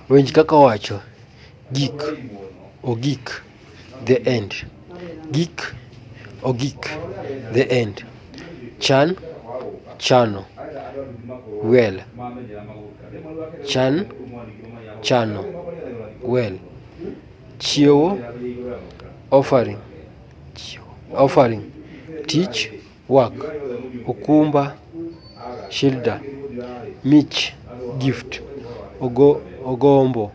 Winj kaka owacho, gik, ogik, the end. Gik, ogik, the end. Chan, chano. Well, chan, chano. Well, chiewo, offering, offering. Tich. work, okumba, shilda, mich, gift, ogo, ogombo,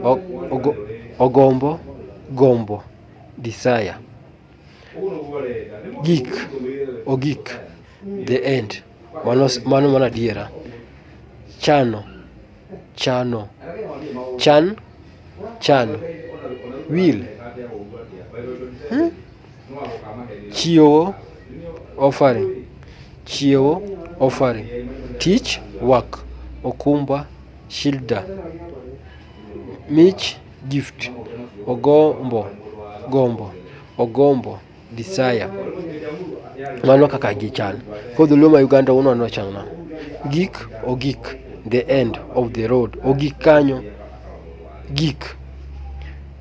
o, ogo, ogombo, gombo, desire, gik, ogik, the end, mano, mano mana adiera, chano, chano chan chano wil chiewo offering chiewo offering tich work okumba shida mich gift ogombo gombo ogombo Desire. Mano kaka gichal. Koro dholuo ma Uganda uno ano chal na. Gik ogik. The end of the road. Ogik kanyo. Gik.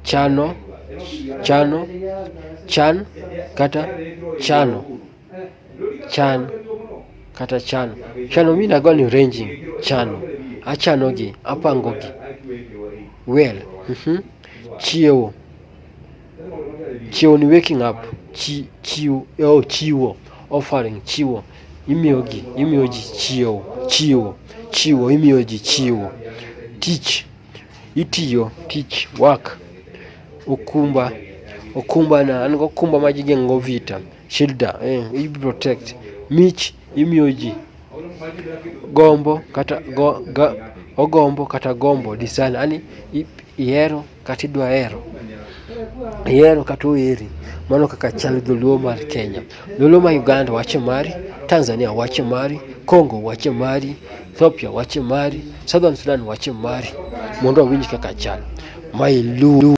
Chano. Chano. Chan. Kata chano. Chan. Kata chano. Chano mi nago ni ranging. Chano. Achano gi. Apango gi. Well. Mm -hmm. Chiewo. Chiwo ni waking up, chi chiw oh chiwo, offering chiwo. Imiyo gi imiyo ji chiewo, chiwo, chiwo imiyo ji chiwo. Tich, itiyo tich work. Okumba, okumba na an gokumba ma jigeng'o vita, shida eh i protect. Mich imiyo ji, gombo kata go ga ogombo kata gombo desire yani i ihero. kata idwa hero ihero kata oheri mano kaka chal dholuo mar kenya dholuo ma uganda wache mari tanzania wache mari congo wache mari ethiopia wache mari southern sudan wache mari mondo wawinj kaka chal ma iluw